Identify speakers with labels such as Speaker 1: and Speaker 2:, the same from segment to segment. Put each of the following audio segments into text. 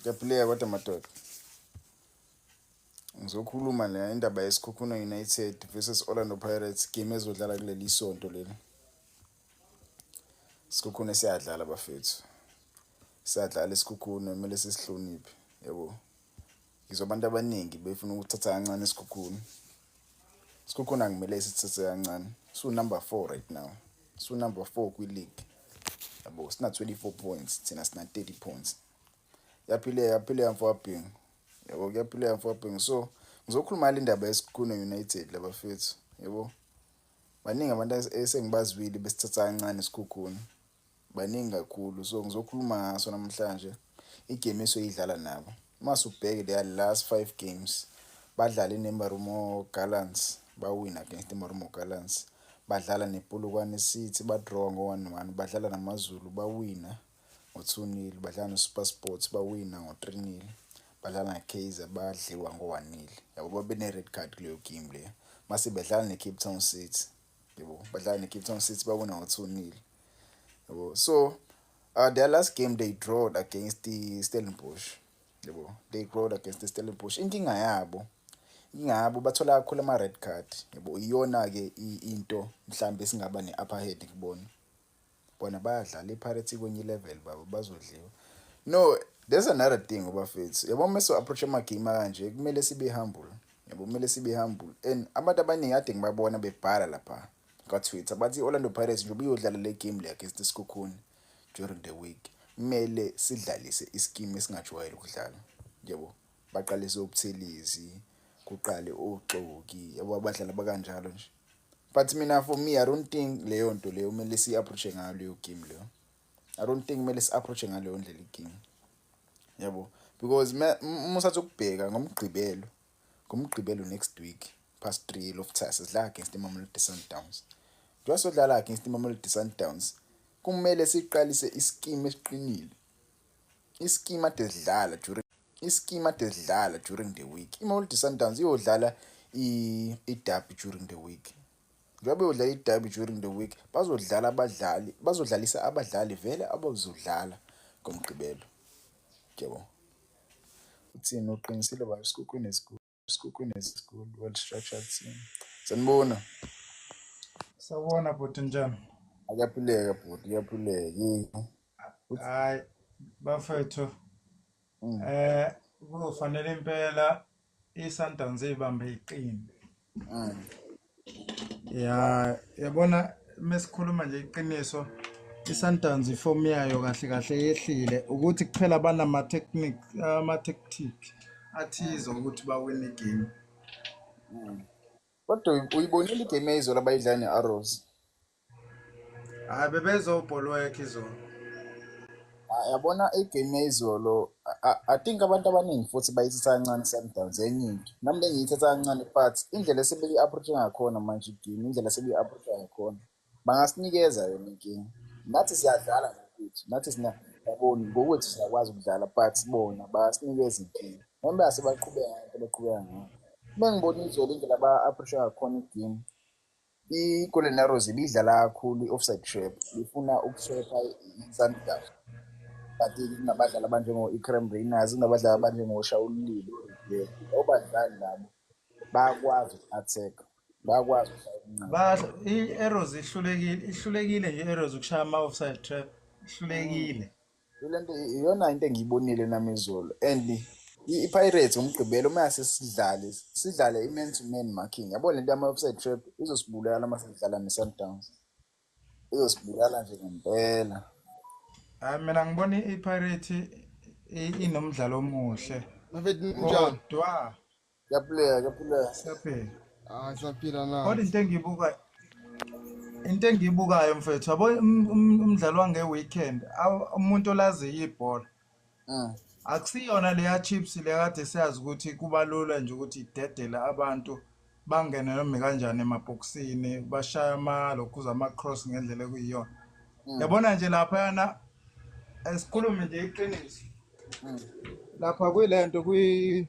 Speaker 1: Ngiyaphileka kodwa madoda. Ngizokhuluma la indaba yeSikhukhuna United versus Orlando Pirates game ezodlala kuleli sonto leli. Sikhukhune siyadlala bafethu. Siyadlala isikhukhune kumele sisihloniphe yabo. ngizwa abantu abaningi befuna ukuthatha kancane isikhukhuni isikhukhuni angimele sithathe kancane siwu-number four right now siwu-number four kwi-league yabo sina-24 points thina sina-30 points yaphileka yaphileka mfowabhingu yabo kuyaphileka mfowabhingu so ngizokhuluma le ndaba yesikhukhuni united labafethu yabo baningi abantu esengibazwile besithatha kancane isikhukhuni baningi kakhulu so ngizokhuluma ngaso namhlanje igame esoyidlala nabo uma subheke their last five games badlale nemarumo gallants bawina against imarumo gallants badlala nepolokwane city badrawa ngo-one one badlala namazulu bawina ngo-two nil badlala nosuper sports bawina ngo-three nil badlala nakaizer badliwa ngo-one nil yabo babene-red card kuleyo game leyo mase bedlala ne-cape town city yebo badlala necape town city bawina ngo-two nil yebo so uh, their last game they drawed against the stellenbosch yebo they drawed against the stellenbosch inkinga yabo inkinga yabo bathola kakhulu ama-red card yebo iyona-ke into mhlawumbe esingaba ne-upper head kubona bona bayadlala iPirates ikwenye ilevel baba bazodliwa no there's another thing obafethu yabo uma so approach amagame kanje kumele sibe humble yabo kumele sibe humble and abantu abaningi ade ngibabona bebhala lapha kwaTwitter bathi iOrlando Pirates nje ubuyodlala le game le against iSikhukhuni during the week kumele sidlalise isikimu esingajwayele ukudlala yabo baqalise ubuthelezi kuqale oxoki yabo abadlali bakanjalo nje but mina for me i don't think leyo nto leyo kumele si-approache ngayo leyo game leyo i don't think kumele si-approache ngaleyo ndlela ikinga yabo because uma usathi ukubheka ngomgqibelo ngomgqibelo next week past three lofthasa sidlala against imamelodi sundowns njengoba sodlala against imamelodi sundowns kumele siqalise isikimu esiqinile isikimu ade sidlala during Isikimu ade sidlala during the week. IMamelodi Sundowns iyodlala iDerby during the week. Njengoba iyodlala iDerby during the week, bazodlala abadlali, bazodlalisa abadlali vele abazodlala ngoMgqibelo. Yebo. Uthini uqinisile baba isikhukhwini esikhulu. Sikukhona esikhulu well structured team. Sanibona.
Speaker 2: Sawubona bhuti njani? Ayaphileka
Speaker 1: bhuti, iyaphileka. Yini? Hayi
Speaker 2: bafethu. Mm. Eh kufanele impela iSundowns ibambe iqini. Mm. ya yabona mesikhuluma nje iqiniso iSundowns iform yayo kahle kahle yehlile ukuthi kuphela banama technic ama tactic athize ukuthi bawine igame
Speaker 1: kodwa uyibonile igame yayizolo abayidlala ne-arrows
Speaker 2: hayi bebezobholwekha izolo Ah,
Speaker 1: yabona igame yayizolo I- I- i think abantu abaningi futhi bayithatha kancane i-sundowns enye into nami bengiyithatha kancane but indlela esebeyi-approache ngakhona manje igame indlela esebeyi-approache ngakhona bangasinikeza yona inkinga nathi siyadlala ngokuthi nathi sina yaboni ngokuthi siyakwazi ukudlala but bona basinikeza inkinga noma bengase baqhubeka ngento baqhubeka ngayo uma ngibona izolo indlela ba-approache ngakhona igame I-Golden Arrows ibidlala kakhulu i-offside trap ifuna ukushepha i-Sundowns but kunabadlali abanjengo-Ikrem Rayners kunabadlali abanjengoShawululile labo badlali labo bayakwazi uku-attack bayakwazi ukudlala
Speaker 2: i-Arrows ihlulekile ihlulekile nje i-Arrows ukushaya ama-offside trap ihlulekile mm. Le nto
Speaker 1: iyona into engiyibonile nami izolo and i-pirates ngomgqibelo uma yasesidlale sidlale i-man to man marking yabo le nto yama-offside trap izosibulala uma sidlala ne-sundowns izosibulala nje ngempela hayi
Speaker 2: mina ngibona i-pirate inomdlalo omuhle
Speaker 3: kodwa
Speaker 2: Ngiyaphileka, ngiyaphileka.
Speaker 1: Siyaphila.
Speaker 2: Ah, siyaphila na. Kodwa
Speaker 3: into engiyibuka
Speaker 2: into engiyibukayo mfethu yabo um- um- umdlalo wange-weekend aw- umuntu olaziyo ibhola Mm. akusiyona leya chips leya kade siyazi ukuthi kuba lula nje ukuthi idedele abantu bangene noma kanjani emabhokisini bashaya amalokhuza ama-cross ngendlela ekuyiyona Mm. yabona nje laphayana esikhulume nje iqiniso Mm. lapha kuyilento kwi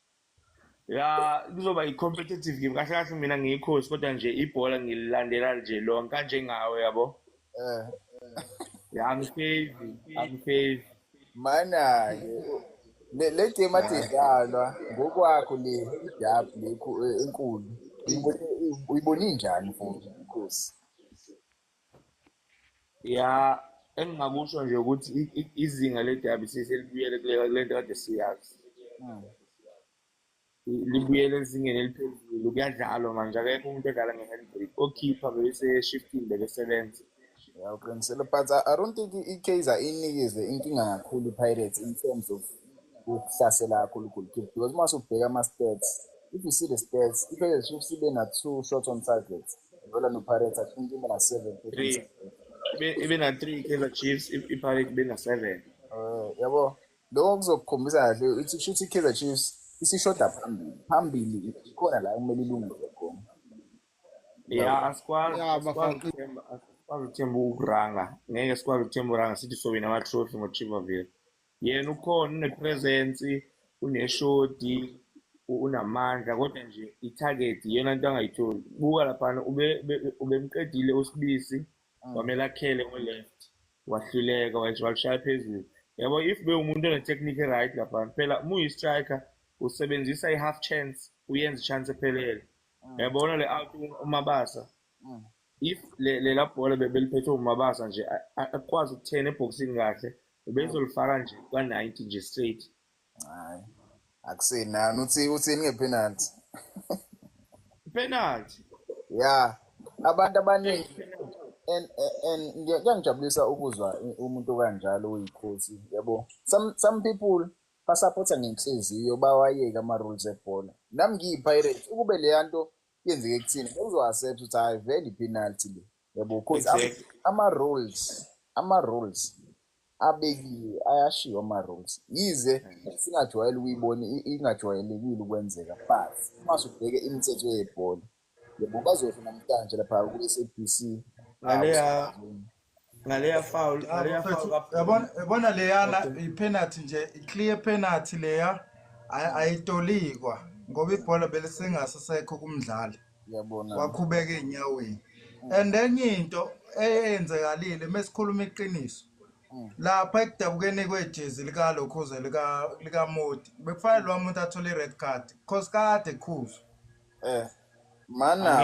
Speaker 1: ya
Speaker 3: kuzoba i-competitive game kahle kahle mina ngiyikhosi kodwa nje ibhola ngililandela nje lonke kanjengawe yabo
Speaker 1: eh ya
Speaker 3: ngifevi angifevi
Speaker 1: mana-ke le game athi idlalwa ngokwakho le idab le eh, enkulu uyibone njani mfowethu inkosi
Speaker 3: ya engingakusho nje ukuthi izinga ledabi seselibuyele kule nto kade siyazi
Speaker 1: hmm.
Speaker 3: libuyele ezingeni eliphezulu kuyadlalwa manje akekho umuntu odlala nge-handbrake okhipha bese eshifting bekesebenza ya uqinisele
Speaker 1: but i don't think ikaizer inikeze inkinga kakhulu ipirates in terms of ukuhlasela kakhulu goalkeeper because uma usubheka ama-stats if you see the stats ipirates chiefs ibe na-two shots on targets Vela no Pirates, I think even a seven. Three. Ibe- ibe na three kaizer
Speaker 3: chiefs i- ipirate ibe na seven Eh, yabo
Speaker 1: lokho kuzokukhombisa kahle ukuthi kusho ukuthi i-kaizer chiefs isishoda phambili phambili khona la kumele ilungise khona
Speaker 3: ya asikwazi Ya, asikwazi bafana. ukuthemba asikwazi ukuthemba ukuranga ngeke sikwazi ukuthemba uranga sithi sowina ama-trophy ngochievaville yena ukhona unepresence uneshodi unamandla kodwa nje i-target iyona nto angayitholi buka laphana ubemqedile usibisi mm. wamele akhele ngo-left wahluleka walishaya phezulu yabo if bewumuntu onetechnique right laphana phela uma uyi-striker usebenzisa i-half chance uyenza i-chance ephelele mm. yabona le out umabasa Mm. if le- lela bhola be- beliphethwe umabasa nje a- a- akukwazi ukuthena ebhokisini kahle bebezolifaka nje kwa-90 nje straight hayi
Speaker 1: akusenani uthi uthini ngepenalty
Speaker 3: penalty ya
Speaker 1: abantu abaningi and and- and ngiya- kuyangijabulisa ukuzwa i- umuntu kanjalo uyikhosi yabo some some people basapotha ngenhliziyo bawayeke ama-rules ebhola nami ngiyipirates ukube leya nto yenzeke kuthina bengizoaccept ukuthi hayi vele ipenalty le yabo because am- Exactly. ama-rules ama-rules abekiwe ayashiwo ama-rules yize singajwayele ukuyibona i- ingajwayelekile ukwenzeka but uma subheke imithetho yebhola yabo bazosho namhlanje lapha kwi-sabc Ngaleya
Speaker 3: ngaleya foul ngaleya foul yabona
Speaker 2: yabona leyana ipenalty nje iclear penalty leya ayitolikwa ngoba ibhola belisingasesekho kumdlali yabona wakhubeka enyaweni and enye into eyenzekalile mesikhuluma iqiniso mm. lapha ekudabukeni kwejezi likalokhuze likamoti bekufanele lowa muntu athole i-red card because kade khuzo um eh,
Speaker 1: mana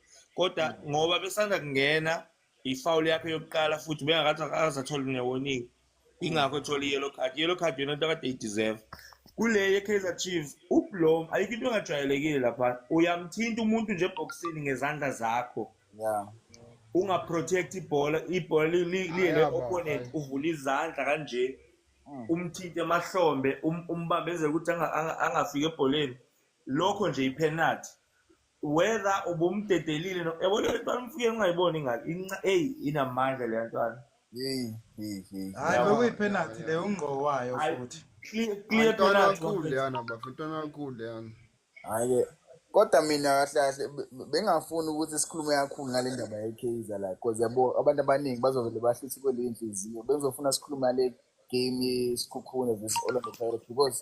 Speaker 3: kodwa ngoba besanda kungena ifawuli yakhe yokuqala futhi bengakathi akazatholi newoningi ingakho ethola i-yellow card i-yellow card yona into kade ideserve kule ye-kaizer chiefs ublom ayikho into engajwayelekile lapha uyamthinta umuntu nje ebhokisini ngezandla zakho yeah ungaprotect ibhola ibhola liyele opponent uvula izandla kanje mm. umthinte emahlombe um, umbambezele ukuthi angafiki ebholeni lokho nje ipenalty whether ubumdedelile no yabo leyo ntwana umfike ungayiboni ingane inca eyi inamandla leya ntwana Hey, hey, hey.
Speaker 2: hayi Yabo. bekuyiphenalty leyo ungqo wayo Hayi, futhi clear clear Ntwana
Speaker 3: penalty kakhulu bafethu. leyana bafo,
Speaker 4: ntwana kakhulu leyana. Hhayi-ke.
Speaker 1: Kodwa mina kahle kahle be- be- bengafuni ukuthi sikhulume kakhulu ngale ndaba yeKaizer la because yabo abantu abaningi bazovele bahluthe kweleyo nhliziyo. Bengizofuna sikhulume ngale game yeSikhukhune versus Orlando Pirates because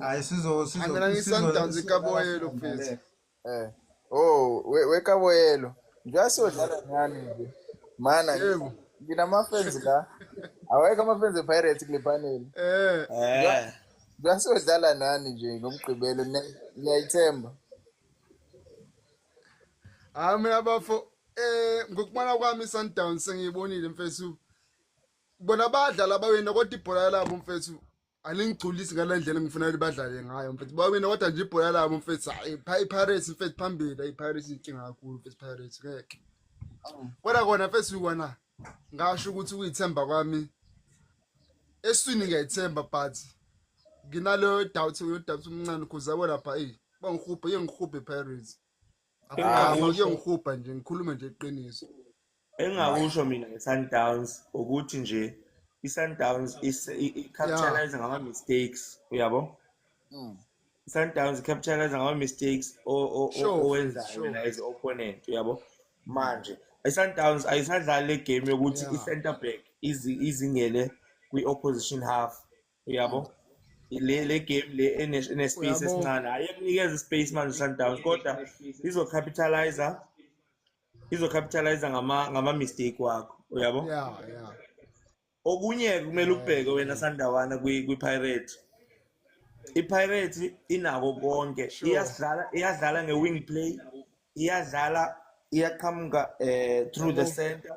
Speaker 2: hayi sizo sizo Mina
Speaker 4: ngisandance kaboyelo
Speaker 1: mfethu. Eh. Oh, we we kaboyelo. Njengoba siyodlala ngani nje. Mana Yebo.
Speaker 4: nginamafenzi la.
Speaker 1: Awekho amafenzi ePirates kule panel. Eh. Eh. Njengoba siyodlala nani nje ngomgqibelo ne- niyayithemba.
Speaker 4: Hayi mina bafo eh ngokubona kwami iSundowns sengiyibonile mfethu. Bona badlala bawina kodwa ibhola labo mfethu aningigculisi ngale ndlela engifuna ukuthi badlale ngayo mfethu bawina kodwa nje ibhola labo mfethu hayi pha ipirates mfethu phambili ayipirates inkinga kakhulu mfethu pirates ngeke kodwa kona mfethu kona ngasho ukuthi uyithemba kwami eswini ngiyayithemba but nginaleyo doubt yo doubt umncane cause yabo lapha eyi bangihubhe yengihubhe pirates ngiyongihubha nje ngikhulume nje iqiniso engakusho
Speaker 3: mina nge-sundowns ukuthi nje i-sundowns i-capitalize ngama-mistakes uyabo hmm. i-sundowns i-capitalize ngama-mistakes owenzayo wena as opponent uyabo manje i-sundowns ayisadlali le game yokuthi i-center back izingele kwi-opposition half uyabo le le game le ene space esincane ayekunikeza ispace manje Sundowns kodwa izo capitalizer izo capitalizer ngama ngama mistake wakho uyabo yeah yeah okunye kumele ubheke wena Sandawana kwi kwi Pirate i Pirate inako konke iyadlala iyadlala nge wing play iyadlala iyaqhamuka eh through the center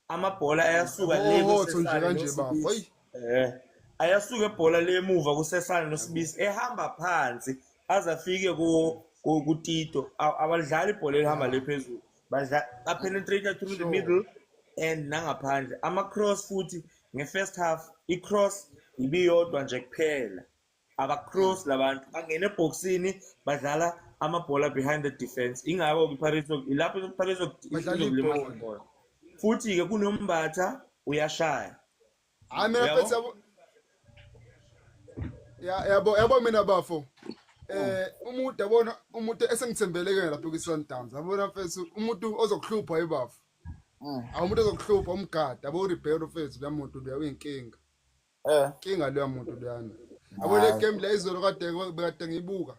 Speaker 3: amabhola ayasuka le Hotho nje kanje bafo. Ayi. Eh. Ayasuka ebhola lemuva kusesana nosibisi ehamba phansi aze afike ku ku- kutito A- abalidlali ibhola elihamba le phezulu badla apenetrate through the middle and nangaphandle ama cross futhi nge first half i cross ibiyodwa nje kuphela abacross labantu bangena ebhoksini badlala amabhola behind the defense ingako kwiPirates ilapho iPirates izokulimaza khona futhi ke kunombatha uyashaya hayi mina phethe yabo
Speaker 4: yabo yabo mina bafo eh umuntu yabona umuntu esengithembele ke lapho kwiSundowns yabona mfethu umuntu ozokuhlupha yibafo mm. awumuntu ozokuhlupha umgada abo uRibeiro mfethu lamuntu uyawinkinga Eh. Kinga leya muntu leyana. Yabo le game la izolo kade kade ngibuka.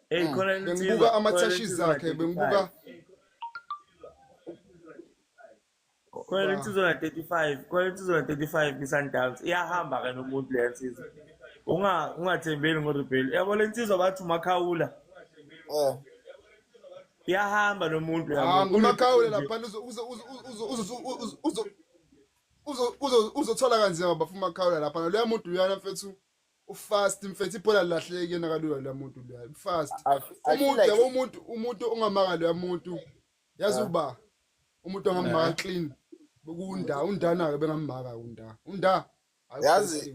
Speaker 4: Hey hmm. khona bengibuka ama tashes zakhe bengibuka
Speaker 3: Khona le nsizwa na 35, khona le nsizwa na 35 kwiSundowns iyahamba ke nomuntu le nsizwa. Unga ungathembeli ngoRebel. Yabo le nsizwa bathi uMakhawula. Eh. Iyahamba nomuntu yabo. Ah, uMakhawula lapha
Speaker 4: uzo uzo uzo uzo uzothola kanzima bafuna umakhawula lapha naloya muntu uyana mfethu ufast mfethu ibhola lilahleke kuyena kalula loya muntu loya ufast umuntu yabo umuntu umuntu ongamaka loya muntu yazi ah. uba umuntu ongamaka eh. clean kunda undana-ke bengammaka unda unda yazi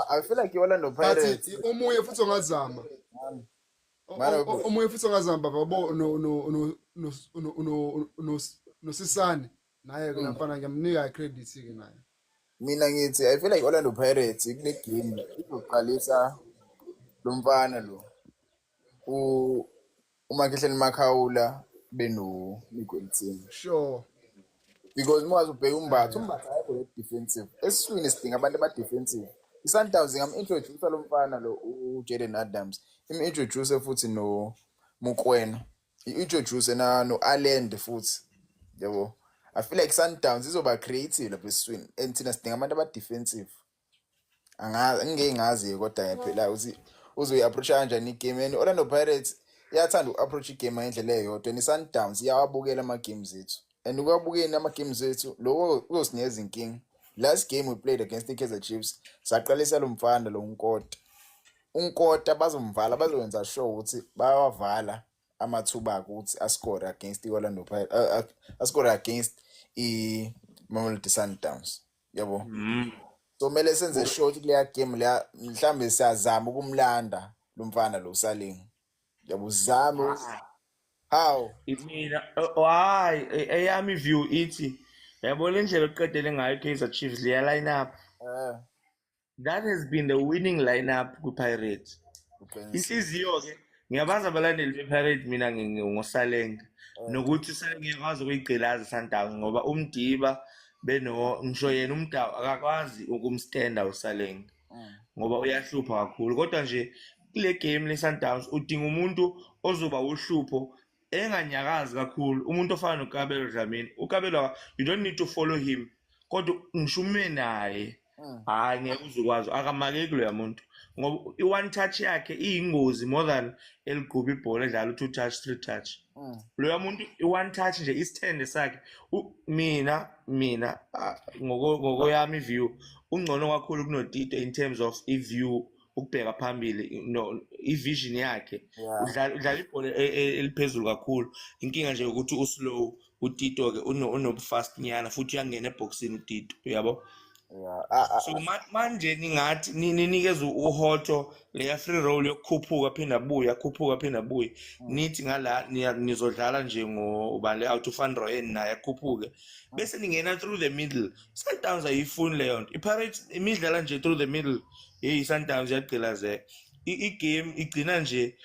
Speaker 4: i
Speaker 1: feel like i-orlando pirates omunye futhi ongazama
Speaker 4: omunye futhi ongazama baba bo nosisane naye ke nafana ngiyamnika credit ke naye mina ngithi
Speaker 1: i feel like Orlando Pirates kule game izoqalisa lo mfana lo u uMakhehleni Makhawula beno Miguelitini sure
Speaker 4: because
Speaker 1: uma ubheka umbatha umbatha ayikho le defensive esiswini sidinga abantu aba defensive iSundowns ngam-introduce lo mfana lo uJaden Adams im-introduce futhi no Mukwena i-introduce na no-alend futhi yabo i feel like sundowns izoba creative lapha esiswini and thina sidinga abantu aba-defensive angazi ngingeke ngazi kodwa ngiyaphela ukuthi uzoyi-approacha kanjani igame and orlando pirates iyathanda uku-approach igame ngendlela eyodwa and i-sundowns iyawabukela ama-games ethu and ukwabukeni ama-games ethu loko kuzosinikeza inkinga last game we played against i-kaizer chiefs saqalisa lo mfana lo nkota unkota bazomvala bazokwenza sure ukuthi bayawavala amathuba akhe ukuthi ascore against i-orlando Pirates, uh, uh, ascore against i-mamelodi sundowns yabo Mm. so kumele senze sure ukuthi kuleya game leya mhlawumbe siyazama ukumlanda lo mfana lo usalingi yabo uzame ukuthi- how Mina
Speaker 3: oh, hayi e- eyami view ithi yabo le ndlela oqedele ngayo iKaizer Chiefs liya line up. Eh, that has been the winning lineup kwi-pirate inhliziyo-ke ngiyabazi abalandeli be-pirate mina ngosalenga oh. nokuthi sengiyakwazi ukuyigqilaza isandawo ngoba umdiba beno ngisho yena umdawu akakwazi ukumstenda usalenga mm. ngoba uyahlupha kakhulu kodwa nje kule game le-sundowns udinga umuntu ozoba uhlupho enganyakazi kakhulu umuntu ofana nokabelo dlamini ukabelo you don't need to follow him kodwa ngishume naye hmm. hhayi ngeke uzukwazi akamakeki loya muntu ngoba i-one touch yakhe iyingozi more than eligquba ibhola edlala u-two touch three touch hmm. loya muntu i-one touch nje isithende sakhe mina mina ngokoyami iview ungcono kakhulu kunotito in terms of iview ukubheka phambili no ivision yakhe Yeah. udlala udlala ibhola e- e- eliphezulu kakhulu inkinga nje ukuthi uslow utito ke uno- unobufast nyana futhi uyangena ebhoksini utito uyabo Yeah. Ah, ah, so ma- manje ningathi ni- ninikeze uhoto leya free roll yokukhuphuka phinde abuye akhuphuka phinde abuye nithi ngala niya- nizodlala nje ngobale out of androyen naye akhuphuke bese ningena through the middle sundowns ayiyifuni leyo nto ipirates imidlala nje through the middle hey iSundowns yagqilazeka i-game igcina nje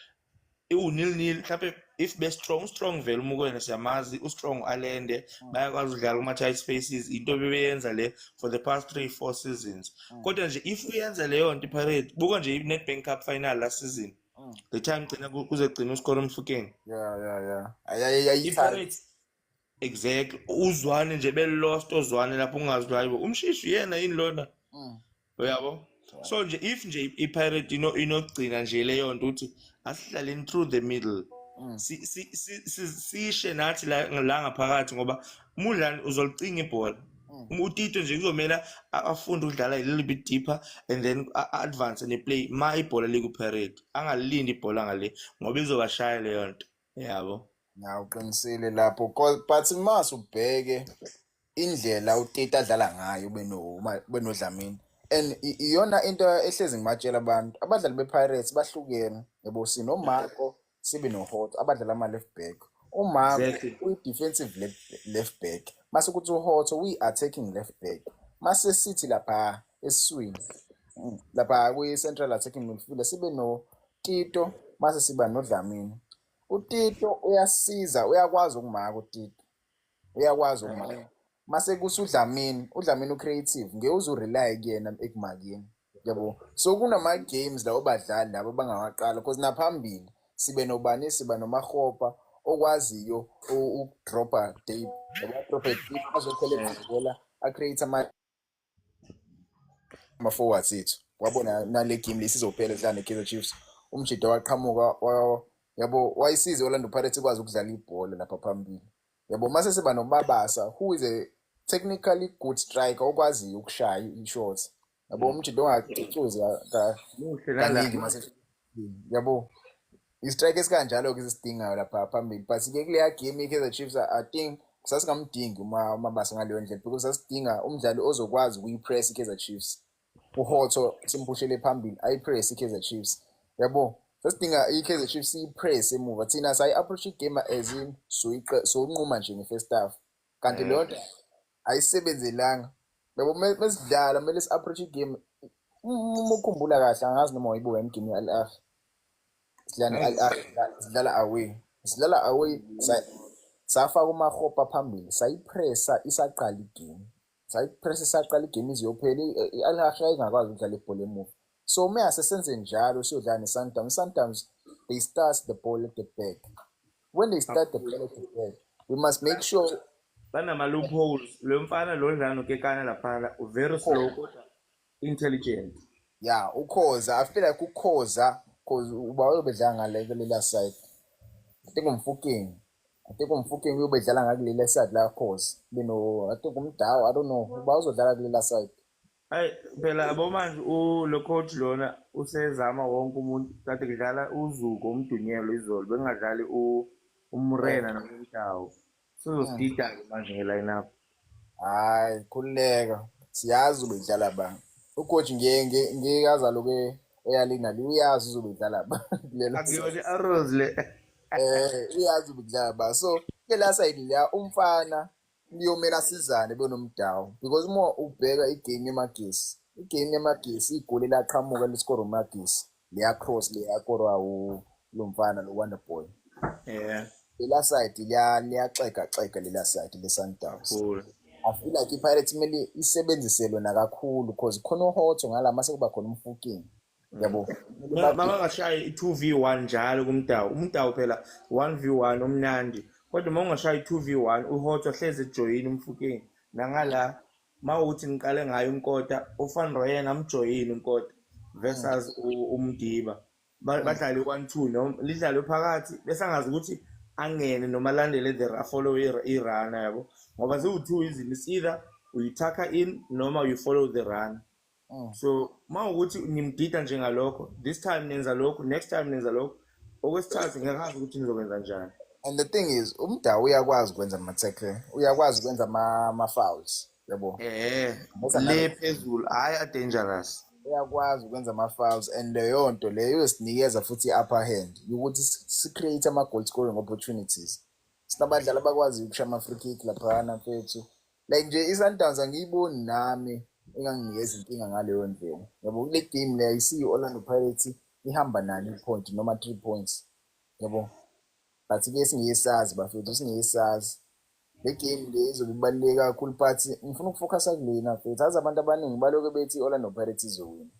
Speaker 3: iwunil nil mhlawumbe if be strong strong vele umukwena siyamazi ustrong alende mm. bayakwazi ukudlala kuma tight spaces into bebeyenza le for the past 3 4 seasons mm. kodwa nje if uyenza leyo nto iPirate buka nje iNedbank Cup final last season mm. the time gcina kuzegcina uskora umfukeni yeah yeah yeah ayayayithanda exactly uzwane nje belost ozwane lapho ungazi ukuthi hayibo umshishi uyena yini lona Mm. uyabo so nje if nje i- ipirate ino- inogcina nje leyo nto ukuthi asihlaleni through the middle Mm. Si- si- si- si- sishe nathi la la ngaphakathi ngoba umudlani uzolicinga ibhola Mm. Um- utito nje kuzomela a- afunde ukudlala a little bit deeper and then a- a- advance neplay ma ibhola likupirate angalilindi ibhola ngale ngoba izobashaya leyo nto yabo ya uqinisile
Speaker 1: lapho Ko- but mas ubheke indlela uteta adlala ngayo beno- ma- benodlamini and i- iyona into ehlezi ngibatshela abantu abadlali bepirates bahlukene yabo sinomako sibe nohot abadlala ama-left back umako exactly uyi-defensive left, left back mase kuthi uhot uyi-attacking left back mase sithi lapha esiswini mm, lapha kwi-central attacking midfielder sibe no Tito mase siba noDlamini. UTito uyasiza, uyakwazi ukumaka uTito. Uyakwazi ukumaka. Mase kusa uDlamini, uDlamini ucreative, ngeke uze urely kuyena ekumakeni. Yabo. So kunama games lawo badlali labo bangawaqala because naphambili sibe nobani siba nomahopa okwaziyo ukudropa deep. Yabo, adrope deep azokhele ibhola, acreate ama ama forwards ethu wabona nale game lesizophela sidlala ne-Kaizer Chiefs umjida waqhamuka wa- yabo wayisize Orlando Pirates ikwazi ukudlala ibhola lapha phambili yabo mase siba nomabasa who is a technically good striker okwaziyo ukushaya i-shot yabo umjida ongacucuzi ka- Muhle kaningi nala. mase yabo istrike esikanjalo-ke sisidingayo lapha phambili but ke kuleya game i-kaizer chiefs i think sasingamdingi umabasa ngaleyo ndlela because sasidinga umdlali ozokwazi ukuyi-press i-kaizer chiefs uhotho simphushele phambili ayi-press i-kaizer chiefs yabo sasidinga i-kaizer chiefs iyi-press emuva thina sayi-approach igame as in soyinquma nje nge-first half kanti leyo nto ayisebenzelanga yabo mesidlala kumele si-approach igame uma ukhumbula kahle angazi noma wayibuka yini game ye-al ahli sidlala ne-al ahli sidlala away sidlala away safaka umahopa phambili sayipressa isaqala igame sayipressa isaqala igame iziyophela i-al ahli yayingakwazi ukudlala ibhola emuva so ume asesenze njalo siyodlala ne-sundowns i-sundowns they start the ball at the back when they start the ball at the back we must make sure banama-loopholes
Speaker 3: lo mfana lo dlala nokekana laphana very slow kodwa intelligent ya
Speaker 1: ukhoza i feel like ukhoza cause uba uyobedlala ngalekelela side i think umfukeni i think umfukeni uyobedlala ngakulela side la cause beno i think umdawo i don't know uba uzodlala kulela side Hayi
Speaker 3: phela yabo manje u- lo coach lona usezama wonke umuntu kade kudlala uzuko umdunyelo izolo bengadlali u- umrena Yebo. nomdawu Mm. sizosida-ke manje nge-lineup Hayi,
Speaker 1: khululeka. Siyazi uzobe idlala ba. Ucoach ngiye ngiye ngiye azaloke eyalina le uyazi uzobe idlala ba. Kulelo akuyona i-arrows
Speaker 3: le eh
Speaker 1: uyazi uzobe idlala ba. So kela side la umfana kuyomela sizane benomdawu because uma ubheka igame yemagesi igame yemagesi igoli elaqhamuka lisikoro magesi leyacross leyakorwa lo mfana lo wonder boy yeah lela side liyaxega xega lela side le-sundowns I feel like i-Pirates kumele isebenzise lona kakhulu because khona uHotho ngala mase kuba khona umfuking yabo makangashaya
Speaker 3: i-two v one njalo kumdawu umdawu phela one v one omnandi kodwa uma ungashaya i-two v one uhothwa hlezi ejoyini umfukeni nangala uma uthi ngiqale ngayo unkota ufan royen amjoyini unkota versus u- umdiba Ba- badlale i-one two noma lidlalwe phakathi bese angazi ukuthi angene noma alandele the ra- follow i- irana yabo ngoba ziwu-two izinto it's either uyithakha in noma you follow the run Mm. so uma ukuthi nimdida njengalokho this time nenza lokhu next time nenza lokhu okwesithathu ngiyakazi ukuthi nizokwenza njani and the thing is
Speaker 1: umda uyakwazi ukwenza ama-tackle uyakwazi ukwenza ama-fouls yabo eh le
Speaker 3: phezulu hayi adangerous uyakwazi ukwenza
Speaker 1: ama-fouls and leyo nto leyo yosinikeza futhi i-upper hand yokuthi si-create ama-goal scoring opportunities sinabadlali abakwaziyo ukusha ama-free kick laphana mfethu like nje iSundowns angiyiboni nami enganginikeza inkinga ngaleyo ndlela yabo kule game le ayisiyo i-orlando pirates ihamba nani i-point noma three points yabo but ke singeke sazi bafethu singeke sazi le game le izobe ibaluleke kakhulu but ngifuna ukufocusa kulena futhi azi abantu abaningi baloke bethi i-orlando pirates izowina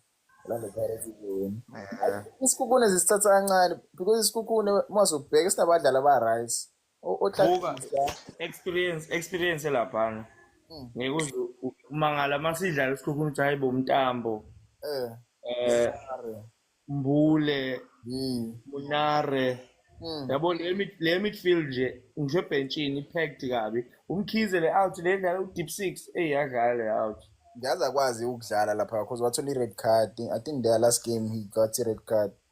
Speaker 1: orlando pirates izowina isikhukhune zisithatha kancane because isikhukhune uma uzobheka sinabadlali aba-right O- Buka Otlagisa.
Speaker 3: experience experience laphana. Mm. Ngeke uze u- umangala uma sidlala isikhukhuni ukuthi hayi bo Mtambo, Eh. eh Are. Mbule, Mm. Munare. Mm. Yabo le mid- le midfield nje ngisho ebhentshini ipacked kabi. Umkhize le out le dlala u deep 6 eyadlala le out. Ngiyazi akwazi
Speaker 1: ukudlala lapha because wathola i-red card. I think their last game he got i-red card.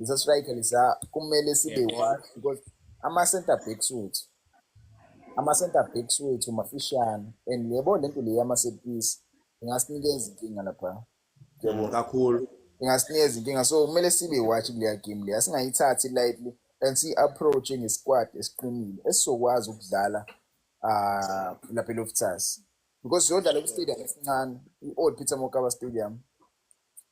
Speaker 1: Ngisa striker lesa kumele sibe Yeah, one because ama center backs wethu ama center backs wethu mafishane and yebo lento le yama set piece ingasinikeza inkinga lapha. Yebo. Mm,
Speaker 3: kakhulu. Ingasinikeza inkinga
Speaker 1: so kumele sibe watch kuleya game leya singayithathi lightly and si approach nge squad esiqinile esizokwazi ukudlala ah lapha eLoftus because siyodlala ku stadium esincane i-Old Peter Mokaba Stadium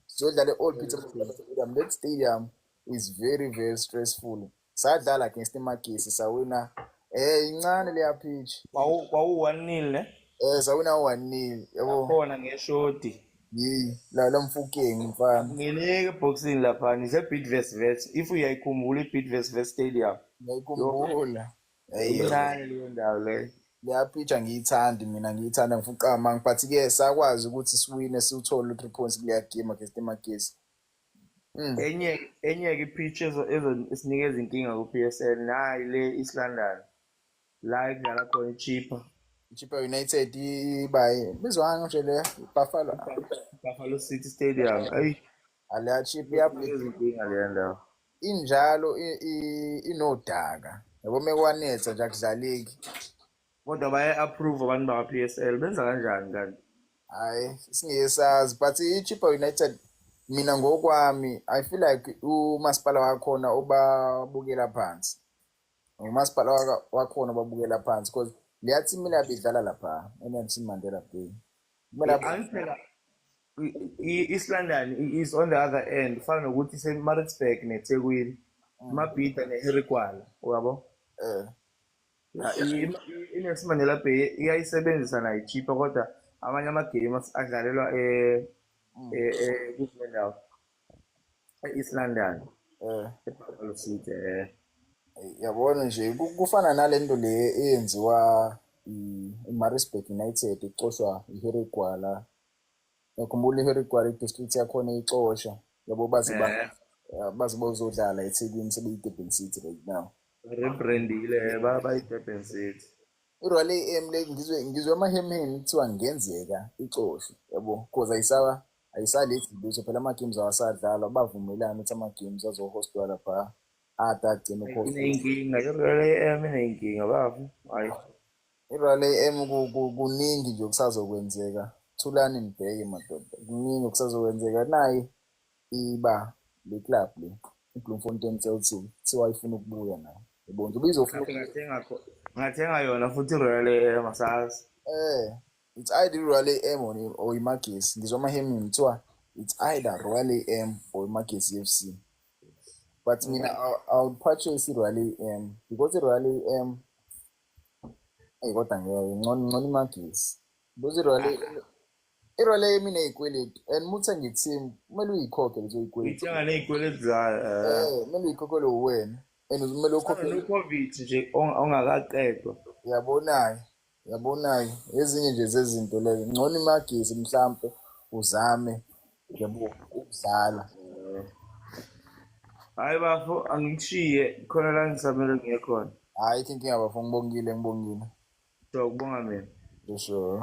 Speaker 1: siyodlala e-old peter stadium that stadium is very very stressful sadlala against imagesi sawina eh incane leya pitch kwawu-one nil
Speaker 3: ne eh sawina u-one
Speaker 1: nil yabo khona ngeshodi
Speaker 3: yeyi la la
Speaker 1: mfukeni mfana ngeneke ebhokisini
Speaker 3: laphana ise-bidvest vet if uyayikhumbula i-bidvest vet stadium ngiyayikhumbula
Speaker 1: Eyo. Incane
Speaker 3: leyo ndawo leyo. Ngiyapitha
Speaker 1: ngiyithandi mina ngiyithanda ngifuna uqama but ke sakwazi ukuthi siwine siwuthole u3 points kuleya game against eMagesi. Mm. Enye
Speaker 3: enye ke pitch ezo ezo sinikeza inkinga ku PSL nayi le East London. La ekudlala khona iChippa. Chippa
Speaker 1: United ibaye. Bizwanga nje le Buffalo.
Speaker 3: Buffalo City Stadium. Ayi Aliyachiphi Kuthi
Speaker 1: yabhida izinkinga le ndawo.
Speaker 3: injalo
Speaker 1: i- i- inodaka. Yabo mekwanetha nje akudlaleki. Kodwa
Speaker 3: baye approve abantu bakwa PSL benza kanjani kanti? Hayi
Speaker 1: singesazi but iChippa United mina ngokwami I feel like umasipala wakhona ubabukela phansi. ngumasipala waka- wakhona obabukela phansi because leya team mina bidlala lapha enelson mandela bay kumele abu- Angiphela
Speaker 3: i- i- East London i- is on the other end fana nokuthi iseMaritzburg neThekwini Mabhida neHarry Gwala uyabo eh Ya, i- i- iNelson Mandela Bay iyayisebenzisa nayo cheaper kodwa amanye amagame as- adlalelwa eh eh eh kule ndawo e-east london um ebuffalo city um
Speaker 1: yabona nje ku- kufana nale nto le eyenziwa i- imarisburg united ixoshwa iharry gwala yakhumbula iharry gwala idistrict yakhona ixosha yabo baze ba- Eh. eh, baze bozodlala ethekwini sebeyidurban city right now rebrandile
Speaker 3: eh, ba- bayidurban city irwale am
Speaker 1: le ngizwe ngizwe amahemheni kuthiwa ngenzeka ixoshwe yabo cause ayisaba ayisalethi lutho phela ama-games awasadlalwa bavumelani ukuthi ama-games azohostwa lapha ada agcina ukuhosta inenkinga i-real
Speaker 3: am inenkinga babu hayi i-real am
Speaker 1: ku- ku- kuningi nje okusazokwenzeka thulani nibheke madoda kuningi okusazokwenzeka nayi iba le club le ibloemfontein celtic kuthiwa ifuna ukubuya nayo ibonje ubizofuna ngathi ngathenga kho- ngathenga
Speaker 3: yona futhi i-real am asazi eh it's
Speaker 1: either i-royal a m or, or imagesi ngizwa amahemini kuthiwa it's either royal a m or imagesi f c but mina i would purchase i-royal a m because i-royal a m eyi kodwa ngeke ngcono ngcono imagesi because i-royal a m i-royal a m ineyikweletu and uma uthenga i-team kumele uyikhokhe lezo yikweletu ngithenga neyikweletu zayo
Speaker 3: um kumele uyikhokhelwe
Speaker 1: uwena and kumele ukhokhe covid nje
Speaker 3: ongakaqedwa uyabona-ke
Speaker 1: Yabona-ke ezinye nje zezinto leyo ngcono imagesi mhlampe uzame yabo ukudlala
Speaker 3: hayi bafo angikushiye khona la ngisamele ngiye khona hayi
Speaker 1: thinking abafo
Speaker 3: ngibongile
Speaker 1: ngibongile sure kubonga
Speaker 3: mina
Speaker 1: sure